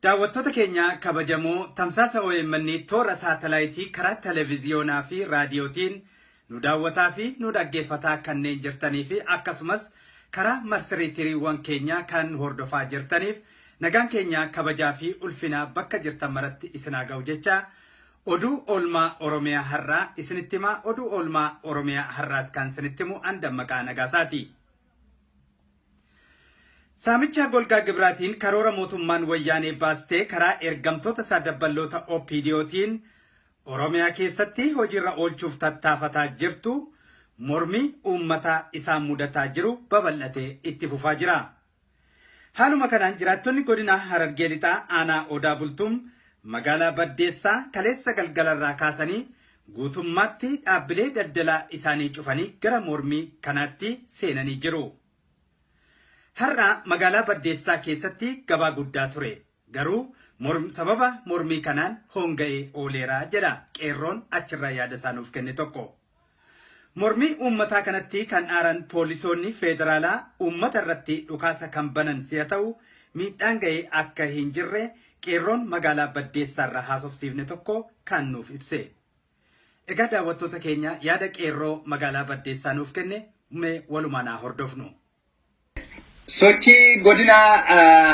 Daawwattoota keenya kabajamoo tamsaasa omn toora saatalaayitii karaa televiziyoonaa fi raadiyootiin nu daawwataa fi nu dhaggeeffataa kanneen jirtanii fi akkasumas karaa marsariitiiriiwwan keenyaa kan nu hordofaa jirtaniif nagaan keenya kabajaa fi ulfinaa bakka jirtan maratti isin haa ga'u jecha oduu oolmaa oromiyaa har'aa isinitti himaa oduu oolmaa oromiyaa har'aas kan isinitti himu an dammaqaa nagaasaati. Saamicha golgaa gibiraatiin karoora mootummaan Wayyaanee baaste karaa ergamtoota isaa dabballoota OPDOtiin Oromiyaa keessatti hojiirra oolchuuf tattaafataa jirtu mormii uummataa isaan mudataa jiru babal'atee itti fufaa jira. Haaluma kanaan jiraattonni godinaa Harargee Lixaa aanaa Odaa Bultum magaalaa Baddeessaa kaleessa galgalarraa kaasanii Guutummaatti dhaabbilee daldalaa isaanii cufanii gara mormii kanaatti seenanii jiru. Har'a magaalaa Baddeessaa keessatti gabaa guddaa ture. Garuu morm, sababa mormii kanaan hoonga'ee ooleera jedha qeerroon achirraa yaada isaa nuuf kenne tokko. Mormii uummataa kanatti kan aaran poolisoonni feederaalaa uummata irratti dhukaasa kan banan si'a ta'u miidhaan ga'ee akka hin jirre Qeerroon magaalaa Baddeessaarraa haasofsiifne tokko kaan nuuf ibse. Egaa daawwattoota keenya yaada qeerroo magaalaa Baddeessaa nuuf kenne mee walumaan haa hordofnu. Sochii godina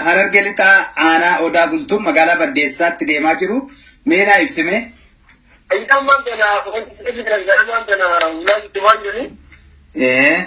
Harargee Lixaa aanaa Odaa Bultum magaalaa Baddeessaatti deemaa jiru mee naa ibsi mee. Isaan maal kana wanti jedhu jiran gara maal kana ulaa itti waan jedhu. Ee.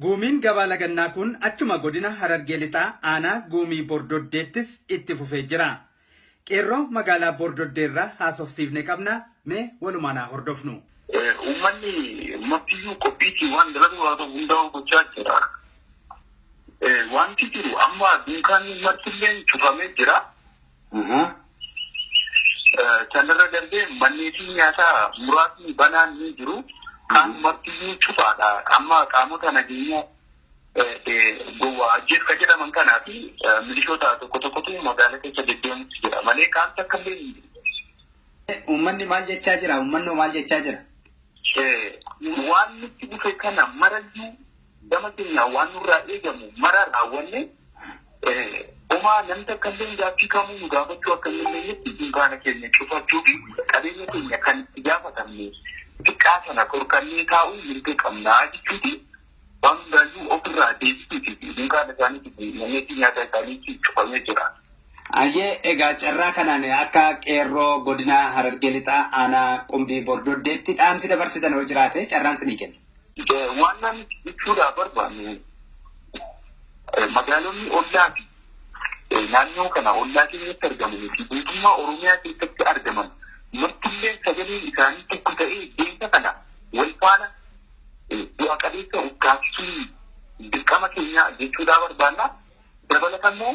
Guumiin Gabaa Lagannaa kun achuma Godina Harargee Lixaa Aanaa Guumii Bordoddeettis itti fufee jira. Qeerroo Magaalaa Bordoddeerraa haasofsiifne qabna, mee walumaan haa hordofnu. Uummanni martiyyuu qophiitiin waan dalaguu danda'u hundaa'uu gochaa jira. Wanti jiru amma dunkaanni martilleen cufamee jira. Sanirra darbee manneetiin nyaataa muraasni banaan ni jiru. Kaan martiyyuu cufaadha. Amma qaamota nageenya gowwaa ajjeef kan jedhaman kanaa fi milishoota tokko tokkotu magaala keessa deddeemutti jira malee kaan takka illee hin jiru. Uummanni maal jechaa jira? Uummanni maal jechaa jira? Waan nutti dhufe kana marayyuu Gama keenyaan waan nurraa eegamu mara raawwannee homaa namni takkalleen gaaffii kamuu nu gaafachuu akka hin dandeenyetti dunkaana keenya cufachuu fi qabeenya keenya kan itti gaafatamne xiqqaa sana dhorkannee taa'uu mirga qabna jechuutiin waan hundaayyuu ofirraa deebisuutii fi dunkaana isaaniitiif manneetii nyaataa isaaniitti cufamee jira. Ayyee egaa carraa kanaan akka qeerroo godina Harargee Lixaa aanaa Qumbii Bordoddeetti dhaamsi dabarsitan yoo jiraate carraan sinii kenna. Waannaan jechuudhaa barbaannu magaalonni ollaa fi naannoo kana ollaa keenyatti argamanii fi guutummaa Oromiyaa keessatti argaman martillee sagaleen isaanii tokko ta'ee deemsa kana wal faana bu'a qabeessa of taasisuun dirqama keenyaa jechuudhaa barbaanna. Dabalatammoo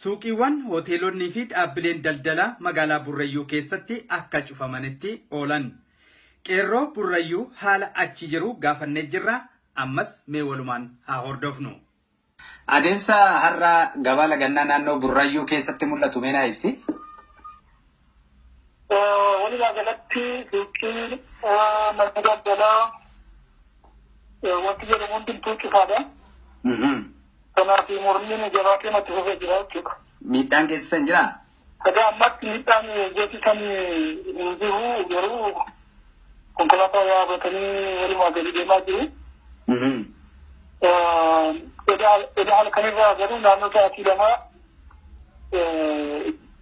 Suuqiiwwan, Hoteelonnii fi dhaabbileen daldalaa magaalaa Burrayyuu keessatti akka cufamanitti oolan. Qeerroo Burrayyuu haala achi jiru gaafannee jirra, ammas mee walumaan haa hordofnu. Adeemsa har'a gabaa lagannaa naannoo Burrayyuu keessatti mul'atu mee naa ibsi. Walumaa galatti suuqii manni daldalaa wanti jedhamu hundumtuu cufaadha. Kanaaf mormiin jabaatee matti fufee jira jechuudha. Miidhaan geessisan jira? Sadaa ammatti miidhaan geessisan hin jiru garuu konkolaataa yaabbatanii walumaa gadi deemaa jiru. Eda halkanirraa garuu naannoo sa'aatii lamaa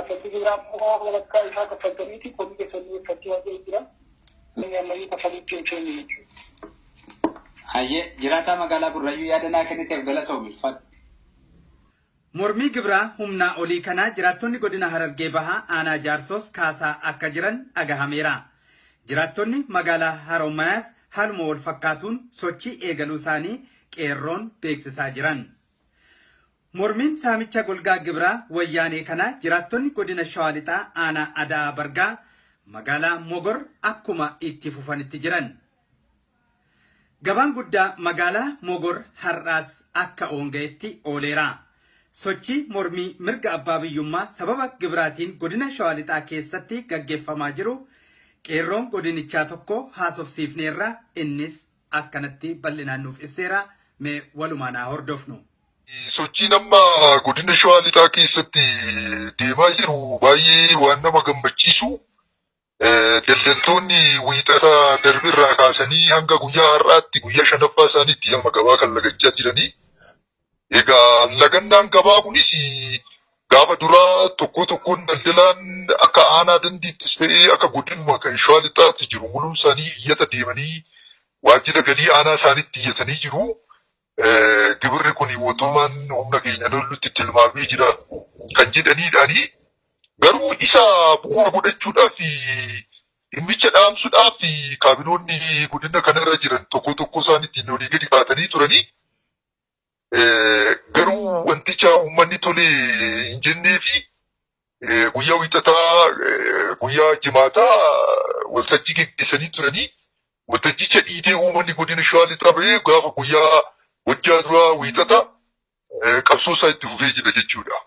Akkasii jira ammoo walakkaa isaa kaffaltaniiti komii keessanii eeggachuu waan ta'eef jira. Inni ammayyuu kaffaliitti hin seenne jechuudha. Hayyee jiraataa magaalaa Burrayyuu yaada naa kenniteef galatoomi ulfaadhu. Mormii gibraa humnaa olii kanaa jiraattonni godina Harargee Bahaa aanaa Jaarsoos kaasaa akka jiran dhagahameera. Jiraattonni magaalaa Harommayaas haaluma wal fakkaatuun sochii eegaluu isaanii qeerroon beeksisaa jiran. Mormiin saamicha golgaa gibiraa wayyaanee kana jiraattonni godina Shawaa Lixaa aanaa Ada'aa Bargaa magaalaa Mogor akkuma itti fufanitti jiran. Gabaan guddaa magaalaa Mogor har'aas akka oonga'etti ooleera. Sochii mormii mirga abbaa biyyummaa sababa gibiraatiin godina Shawaa Lixaa keessatti gaggeeffamaa jiru qeerroon godinichaa tokko haasofsiifneerra innis akkanatti bal'inaan nuuf ibseera. Mee walumaan haa hordofnu. Sochiin amma godina Shawaa Lixaa keessatti deemaa jiru baay'ee waan nama gammachiisu. Daldaltoonni wiixata darbirraa kaasanii hanga guyyaa har'aatti guyyaa shanaffaa isaaniitti amma gabaa kan lagachaa jiranii. Egaa lagannaan gabaa kunis gaafa duraa tokkoo tokkoon daldalaan akka aanaa dandiittis ta'ee akka godinuma kan shawaa lixaatti jiru muluun isaanii iyyata deemanii waajjira galii aanaa isaanitti iyyatanii jiru. Gibirri kun mootummaan humna keenya lollutti tilmaamee jira kan jedhaniidhaanii. Garuu isa bu'uura godhachuudhaaf dhimmicha dhaamsuudhaaf kaabinoonni godina kanarra jiran tokkoo tokkoo isaaniitiin olii gadi kaatanii turanii. Garuu wanticha uummanni tole hin jennee fi guyyaa wiixataa guyyaa jimaataa waltajjii geggeessanii turanii waltajjicha dhiitee uummanni godina shawaa lixaa bahee gaafa guyyaa wajjaa duraa wiixata qabsoo isaa itti fufee jira jechuudha.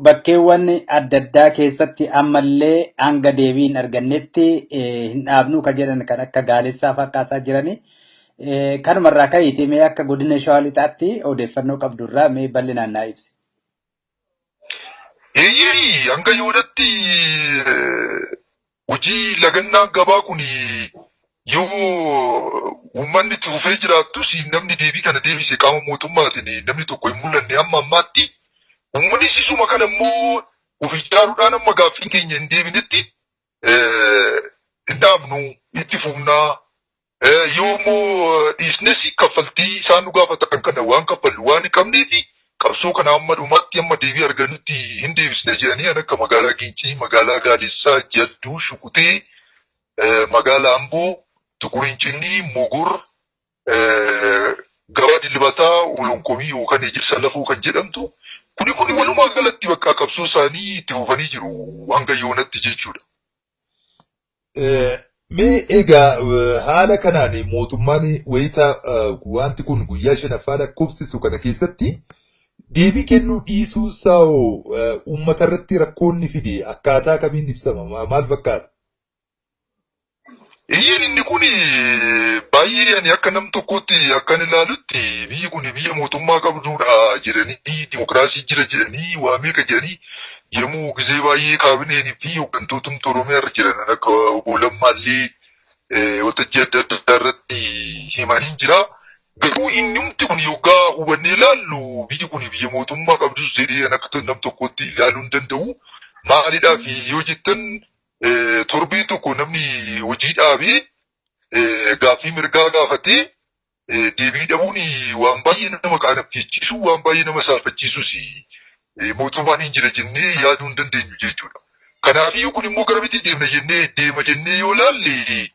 Bakkeewwan adda addaa keessatti ammallee hanga deebii hin argannetti eh, hin dhaabnuu kan jedhan kan akka gaalessaa fa'aa kaasaa jirani. Eh, Kanumarraa ka'iiti mee akka godina shawaa lixaatti odeeffannoo qabdurraa mee bal'inaan naa ibsi. Eeyyee hanga yoonatti eh, Hojii lagannaa gabaa kun yoo uummanni itti fufee jiraattus namni deebii kana deebise qaama mootummaatiin namni tokko hin mul'anne amma ammaatti. Uummanni sisuma kana immoo of ijaaruudhaan amma gaaffiin keenya hin deebinetti hin dhaabnu itti fufnaa Eh, Yoo immoo dhiisnes kaffaltii isaan nu gaafatan kana waan kaffallu waan hin qabneef qabsoo kana amma dhumaatti amma deebii argannutti hin deebisne jedhanii an akka magaalaa Gincii, magaalaa Gaadessaa, Jadduu, Shukuxee, eh, magaalaa Amboo, Tuqur Incinnii, Mogur, eh, gabaa dilbataa olonkomii yookaan ejersa lafoo kan jedhamtu kuni kuni walumaa galatti bakka qabsoo isaanii itti fufanii jiru hanga yoonatti jechuudha. Mee egaa haala kanaan mootummaan wayita wanti kun guyyaa shanaffaa lakkoofsisu kana keessatti deebii kennuu dhiisuu isaa hoo uummata irratti rakkoonni fide akkaataa kamiin ibsama maal fakkaata? Eeyyeen inni kun baay'ee ani akka nam tokkootti akkan ilaalutti biyyi kun biyya mootummaa qabdudha jedhanii dimokiraasii jira jedhanii waa meeqa jedhanii Yemmuu gizee baay'ee kaabineen fi hooggantootni Oromiyaa irra jiran akka obbo Lammaa illee waltajjii adda addaa irratti himanii jira. Garuu inni hundi kun yoggaa hubannee ilaallu biyyi kun biyya mootummaa qabdus jedhee an akka nam tokkootti ilaaluu hin danda'u. Maalidhaaf yoo jettan torbee tokko namni hojii dhaabee gaaffii mirgaa gaafatee deebii dhabuun waan baay'ee nama qaanabjechiisu, waan baay'ee nama saalfachiisus mootummaan hin jira jennee yaaduu hin dandeenyu jechuudha. Kanaafiyyuu kun immoo garamitti deemna jennee deema jennee yoo laalle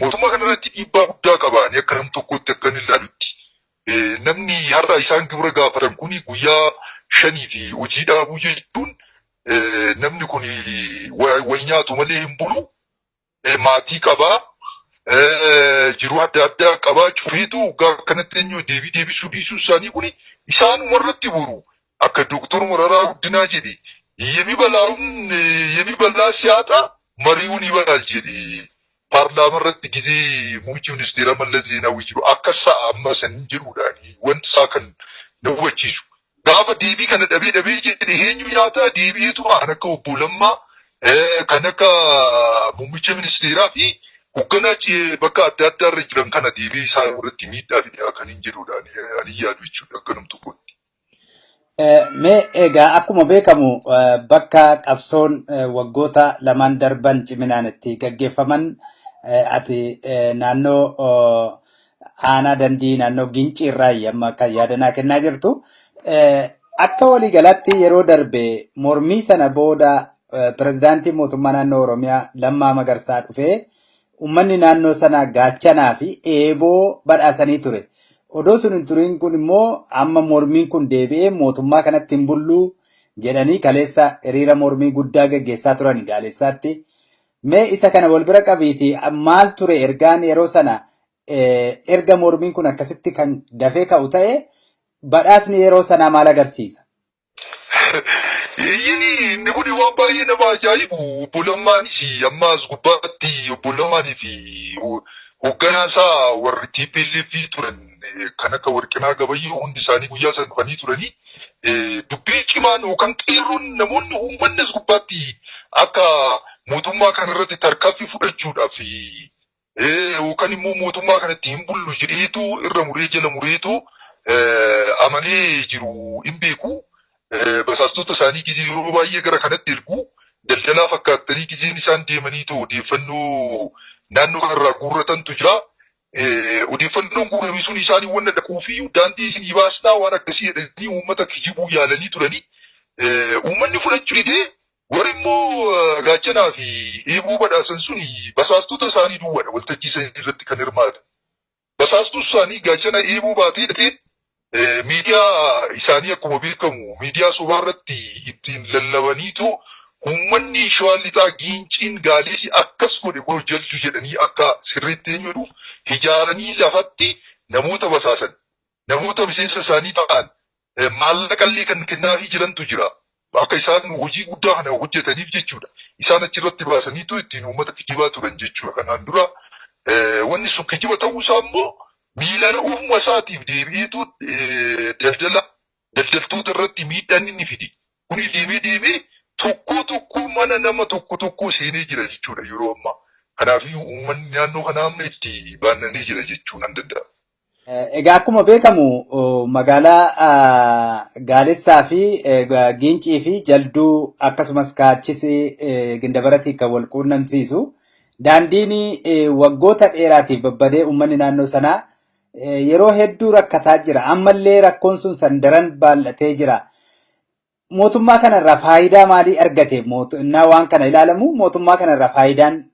mootummaa kanarratti dhiibbaa guddaa qaba. Ani akka nam tokkootti akka inni ilaalutti. Namni har'a isaan gibira gaafatan kun guyyaa shanii fi hojii dhaabuu jechuun namni kun wal nyaatu malee hin bulu. maatii qaba, jiruu adda addaa qaba, cufeetu waggaa akkanatti eenyu deebii deebisuu dhiisuu isaanii kun isaanuma irratti boru akka Dooktor Mararaa Guddinaa jedhe yemibalaa'uun yemibalaa siyaaxaa mari'uun ibalaal jedhe paarlaama irratti gizee muummichi ministeeraa Mallas Zeenaawwi jiru akka sa'a amma saniin jedhuudhaan wanti isaa kan na hubachiisu Gaafa deebii kana dhabee dhabee jedhe eenyu nyaataa deebi'eetuma kan akka obbo Lammaa kan akka muummicha ministeeraa fi hogganaa bakka adda addaa irra jiran kana deebi'ee isaan irratti miidhaa fidee kan hin jedhudha ani yaadu jechuudha akka nam tokkotti. Mee egaa akkuma beekamu bakka qabsoon waggoota lamaan darban ciminaan itti gaggeeffaman ati naannoo aanaa dandii naannoo gincii irraa yamma akka yaadanaa kennaa jirtu. Akka waliigalaatti yeroo darbe mormii sana booda pirezidaantiin mootummaa naannoo Oromiyaa Lammaa Magarsaa dhufee uummanni naannoo sanaa gaachanaa fi eeboo badhaasanii ture. Odoo sun hin turiin kun immoo amma mormiin kun deebi'ee mootummaa kanatti hin bulluu jedhanii kaleessa hiriira mormii guddaa gaggeessaa turan gaaleessaatti. Mee isa kana wal bira qabiitii maal ture ergaan yeroo sana erga mormiin kun akkasitti kan dafee ka'u ta'e badhaasni yeroo sanaa maal agarsiisa? Eeyyeni inni kun waan baay'ee nama ajaa'ibu obbo Lammaanis amma as gubbaatti obbo Lammaanii fi hoogganaa isaa warri TPLF turan kan akka Warqinaa Gabayyoo hundi isaanii guyyaa sana dhufanii turanii eh, dubbii cimaan yookaan qeerroon namoonni uummanni as gubbaatti akka mootummaa kana irratti tarkaanfii fudhachuudhaaf eh, yookaan immoo mootummaa kanatti hin bullu jedheetu irra muree jala mureetu eh, amanee jiru hin beeku. Eh, Basaastota isaanii gizee yeroo baay'ee gara kanatti ergu daldalaa fakkaattanii gizeen isaan deemaniitu odeeffannoo naannoo kanarraa guurratantu jira. Eh, odeeffannoon guurame sun isaanii wanna dhaquufi daandii isinii baasnaa waan akkasii jedhanii uummata kijibuu yaalanii turanii eh, uummanni fudhachuu didee warri immoo eh, gaachanaa fi eeboo badhaasan sun basaastota isaanii duwwaadha waltajjii isaanii irratti kan hirmaatan. Basaastuu isaanii gaachana eeboo baatee dhaqee Miidiyaa isaanii akkuma beekamu miidiyaa sobaa irratti ittiin lallabaniitu uummanni Shawaa Lixaa Giinciin Gaadisi akkas godhe kunoo jaldu jedhanii akka sirriitti eenyu jedhuuf ijaaranii lafatti namoota basaasan, namoota miseensa isaanii ta'an maallaqallee kan kennaafii jirantu jira. Akka isaan hojii guddaa kana hojjetaniif jechuudha. Isaan achirratti baasaniitu ittiin uummata kijibaa turan jechuudha kanaan dura. Wanni sun kijiba ta'uusaa immoo miilaan ofuma isaatiif deebi'eetu daldala daldaltoota irratti miidhaan inni fide. Kuni deemee deemee tokkoo tokkoo mana nama tokko tokkoo seenee jira jechuudha yeroo ammaa. Kanaafiyyuu uummanni naannoo kanaa amma itti baannanee jira jechuu nan danda'a. Egaa akkuma beekamu magaalaa Gaalessaa fi Giincii fi Jalduu akkasumas kaachis Gindabaratiin kan wal quunnamsiisu daandiin waggoota dheeraatiif babbadee uummanni naannoo sanaa yeroo hedduu rakkataa jira. Ammallee rakkoon sun sandaran baay'atee jira. Mootummaa kanarraa faayidaa maalii argate? Innaa waan kana ilaalamu mootummaa kanarraa faayidaan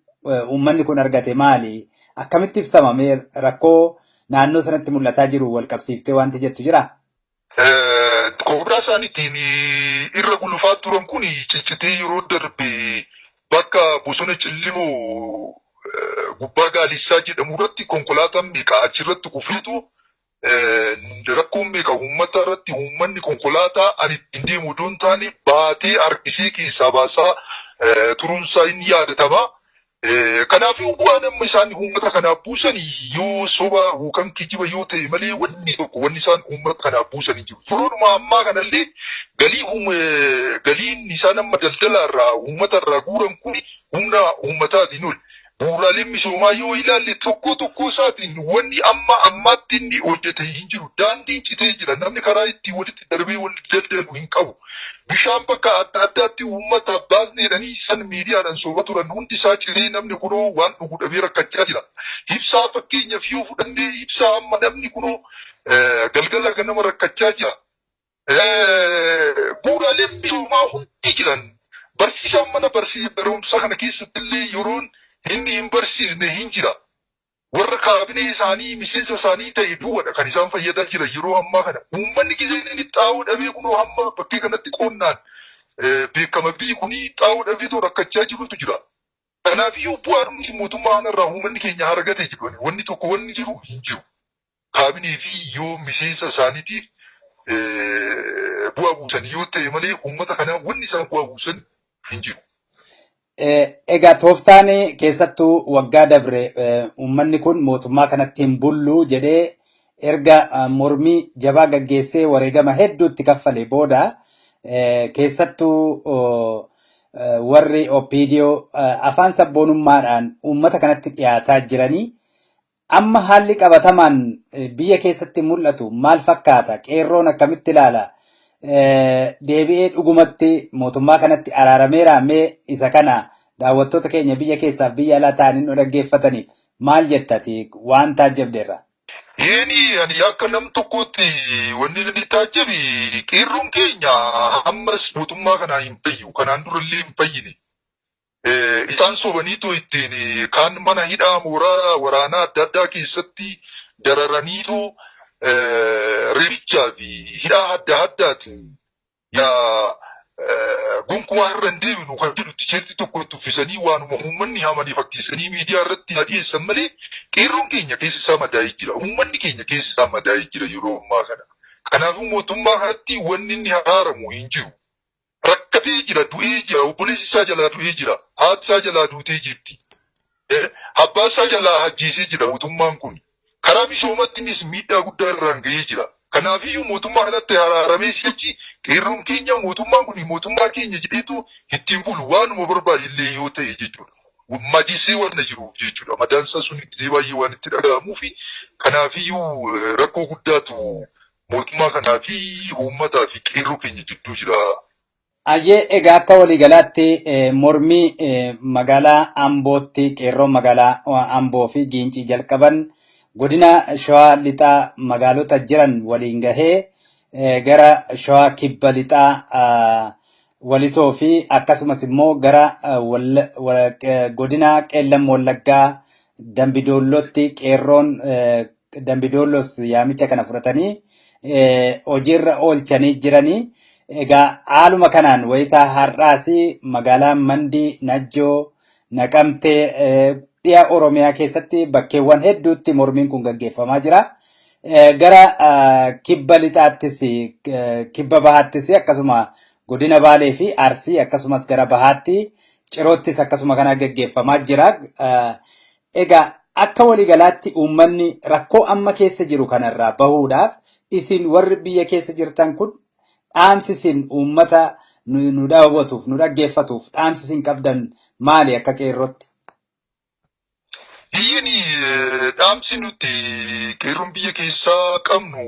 uummanni kun argate maali? Akkamitti ibsama? Mee rakkoo naannoo sanatti mul'ataa jiru wal qabsiiftee wanti jettu jira? Koobraa isaaniitiin irra gulufaa turan kun ciccitee yeroo darbe bakka bosona Cillimoo gubbaa Gaalissaa jedhamu irratti konkolaataan meeqa achirratti kufeetu rakkoon meeqa uummata irratti uummanni konkolaataa ani ittiin deemu utuu hin taane baatee harkisee keessaa baasaa turunsaa inni yaadatama. Kanaaf waan amma isaan uummata kanaaf buusan yoo soba yookaan kijiba yoo ta'e malee wanni tokko wanni isaan uummata kanaaf buusan hin jiru. Yeroodhuma ammaa kanallee galii galiin isaan amma daldala irraa uummata irraa guuran kun humna uummataatiin ol. Bu'uuraaleen misoomaa yoo ilaalle tokkoo tokkoo isaatiin wanni amma ammaatti inni hojjete hin jiru. Daandiin citee jira. Namni karaa ittiin walitti darbee wal daldalu hin qabu. Bishaan bakka adda addaatti uummataaf baasne jedhanii san miidiyaadhaan soba turan hundi isaa citee namni kunoo waan dhugu dhabee rakkachaa jira. Ibsaa fakkeenyaaf yoo fudhanne ibsaa amma namni kunoo galgala ganama rakkachaa jira. bu'uuraaleen misoomaa hundi jiran barsiisaan mana barumsaa kana keessatti illee yeroon inni hin barsiisne hin jira. Warra kaabinee isaanii miseensa isaanii ta'e duwwadha kan isaan fayyadaa jiran yeroo ammaa kana. Uummanni gizeen inni xaa'oo dhabee kunoo hamma bakkee kanatti qonnaan beekama biyyi kuni xaa'oo dhabee too rakkachaa jirutu jira. Kanaafiyyuu bu'aa dhumti mootummaa kanarraa uummanni keenya argate jedhani wanni tokko wanni jiru hin jiru. kaabinee fi yoo miseensa isaaniitiif bu'aa buusan yoo ta'e malee uummata kanaa wanni isaan bu'aa buusan hin jiru. Egaa tooftaan keessattuu waggaa dabre uummanni kun mootummaa kanatti hin bullu jedhee erga mormii jabaa gaggeessee wareegama hedduutti kaffale booda keessattuu warri OPDO afaan sabboonummaadhaan uummata kanatti dhiyaataa jiranii Amma haalli qabatamaan biyya keessatti mul'atu maal fakkaata? Qeerroon akkamitti ilaala? Deebi'ee dhugumatti mootummaa kanatti araarameera mee isa kana daawwattoota keenya biyya keessaaf biyya alaa ta'anii nu dhaggeeffataniif maal jettati waan taajjabdeerra? Eeni ani akka nam tokkootti wanni inni taajjabe qeerroon keenya ammas mootummaa kanaa hin fayyu. Kanaan durallee hin fayyine. Eh, isaan sobaniitu ittiin eh, kaan mana hidhaa mooraa waraanaa adda addaa keessatti dararaniitu eh, reebichaa fi hidhaa adda addaatiin yaa eh, gonkumaa irra hin deebinu kan jedhu tiisheertii tokko itti uffisanii waanuma uummanni hamanii fakkeessanii miidiyaa irratti haa dhiyeessan malee qeerroon keenya keessi isaa madaa'ee jira. Uummanni keenya keessi isaa madaa'ee jira yeroo ammaa kana. Kanaafuu mootummaa kanatti wanni inni haaramu hin jiru. rakkatee jira du'ee jira obboleessi isaa jalaa du'ee jira haati isaa jalaa duutee jirti abbaa isaa jalaa ajjeesee jira mootummaan kun karaa misoomattinis miidhaa guddaa irraan ga'ee jira kanaafiyyuu mootummaa kanatti araaramee sichi qeerroon keenya mootummaan kun mootummaa keenya jedheetu ittiin bulu waanuma barbaade illee yoo ta'e jechuudha madeessee waan na jiruuf jechuudha madaansaa sun itti baay'ee waan itti dhaga'amuufi kanaafiyyuu rakkoo guddaatu Mootummaa kanaa fi uummataa fi qeerroo keenya jidduu jira. Ayyee egaa akka waliigalaatti eh, mormii eh, magaalaa Ambootti qeerroon magaalaa eh, Amboo fi Giincii jalqaban godina Shawaa Lixaa magaalota jiran waliin gahee eh, gara Shawaa Kibba Lixaa ah, Walisoo fi akkasumas immoo gara godina Qeellam Wallaggaa Dambidoollootti qeerroon Dambidoolloos yaamicha kana fudhatanii hojiirra oolchanii jiranii. Egaa haaluma kanaan wayitaa har'aas magaalaa Mandii, Najjoo, Naqamtee dhiya Oromiyaa keessatti bakkeewwan hedduutti mormiin kun gaggeeffamaa jira. Gara kibba lixaattis kibba bahaattis akkasuma godina Baalee fi Arsii akkasumas gara bahaatti ciroottis akkasuma kana gaggeeffamaa jira. Egaa akka waliigalaatti uummanni rakkoo amma keessa jiru kanarraa bahuudhaaf isin warri biyya keessa jirtan kun Dhaamsi isin uummata nu nu daawwatuuf, nu dhaggeeffatuuf dhaamsi isin qabdan maali akka qeerrootti? Eeyyeen eh, dhaamsi nuti qeerroon biyya keessaa qabnu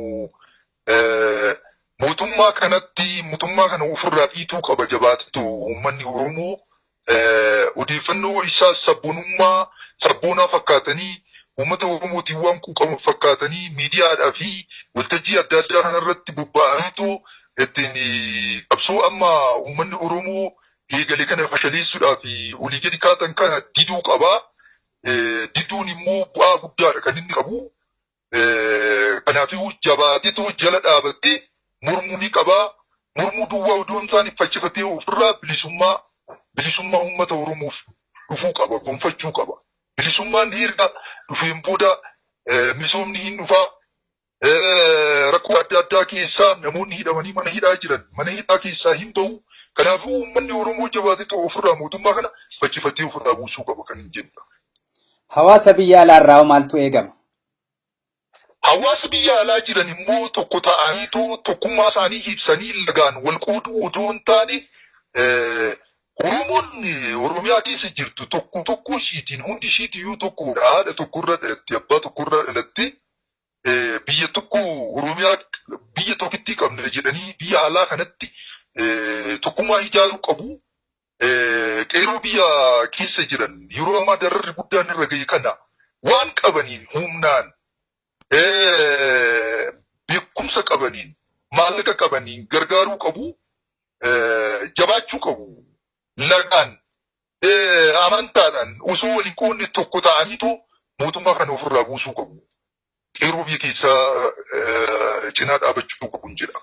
eh, mootummaa kanatti mootummaa kana ofirraa dhiituu qaba jabaatetu uummanni Oromoo odeeffannoo isaa sabboonummaa sabboonaa fakkaatanii uummata Oromootiin waan quuqaman fakkaatanii miidiyaadhaa fi waltajjii adda addaa kanarratti bobba'aniitu ittiin qabsoo amma uummanni Oromoo eegale kana fashaleessuudhaaf olii gadi kaatan kana diduu qaba. Diduun immoo bu'aa guddaadha kan inni qabu. Kanaafuu jabaateetu jala dhaabattee mormuu ni qabaa. Mormuu duwwaa odoo hin taane faccifatee ofirraa bilisummaa bilisummaa uummata Oromoof dhufuu qaba, gonfachuu qaba. Bilisummaan erga dhufeen booda misoomni hin dhufaa. Rakkoo adda addaa keessaa namoonni hidhamanii mana hidhaa jiran mana hidhaa keessaa hin bahu. Kanaafuu uummanni Oromoo jabaateetu ofirraa mootummaa kana faccifatee ofirraa buusuu qaba kan hin jedhudha. Hawaasa biyya alaarraa maaltu eegama? Hawaasi biyya alaa jiran immoo tokko ta'aniitoo tokkummaa isaanii ibsanii lagaan wal qooduu odoo hin taane Oromoon Oromiyaa keessa jirtu tokko tokko ishiitiin hundi ishiitiyyuu tokkodha. Haadha tokkorra dhalatte, abbaa tokkorra dhalatte biyya tokko Oromiyaa biyya tokkittii qabna jedhanii biyya alaa kanatti tokkummaa ijaaruu qabu. Qeerroo biyya keessa jiran yeroo ammaa dararri guddaan irra ga'e kana waan qabaniin humnaan beekumsa qabaniin maallaqa qabaniin gargaaruu qabu jabaachuu qabu lagaan amantaadhaan osoo waliin qoonni tokko ta'aniitu mootummaa kana ofirraa buusuu qabu. qeerroo biyya keessaa cinaa dhaabachuu qabuun jedha.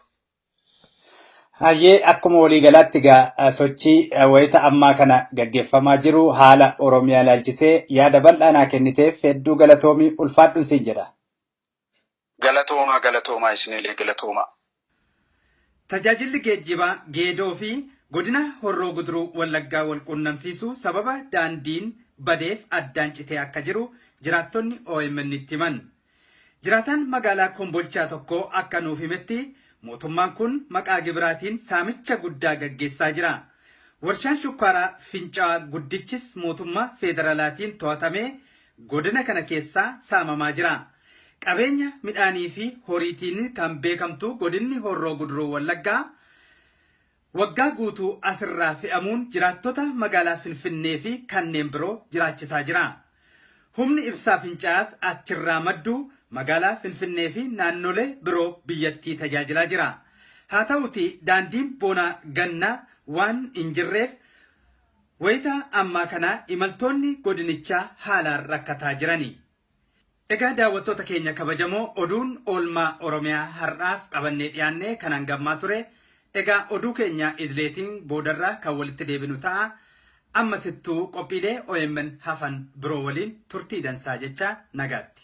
Hayyee akkuma waliigalaatti egaa sochii wayita ammaa kana gaggeeffamaa jiru haala Oromiyaa ilaalchisee yaada bal'aa naa kenniteef hedduu galatoomii ulfaadhun siin jedha. Galatoomaa galatoomaa isinillee galatoomaa. Tajaajilli geejjibaa Geedoo fi Godina Horroo Guduruu Wallaggaa walquunnamsiisu sababa daandiin badeef addaan citee akka jiru jiraattonni OMNtti himan. Jiraataan magaalaa Kombolchaa tokko akka nuuf himetti mootummaan kun maqaa gibiraatiin saamicha guddaa gaggeessaa jira. Warshaan shukkaaraa Fincaa'aa guddichis mootummaa feederalaatiin to'atamee godina kana keessaa saamamaa jira. Qabeenya midhaanii fi horiitiin kan beekamtu godinni Horroo Guduruu Wallaggaa waggaa guutuu asirraa fe'amuun jiraattota magaalaa Finfinnee fi kanneen biroo jiraachisaa jira. Humni ibsaa finca'aas achirraa maddu magaalaa Finfinnee fi naannolee biroo biyyattii tajaajilaa jira. Haa ta'uutii daandiin boonaa gannaa waan hin jirreef Wayita ammaa kana imaltoonni godinichaa haalaan rakkataa jirani. Egaa daawwattoota keenya kabajamoo oduun oolmaa Oromiyaa har'aaf qabannee dhiyaanne kan hanga ammaa ture. Egaa oduu keenya idileetiin boodarra kan walitti deebinu ta'a. Ammasittuu qophiilee omn hafan biroo waliin turtii dansaa jechaa nagaatti.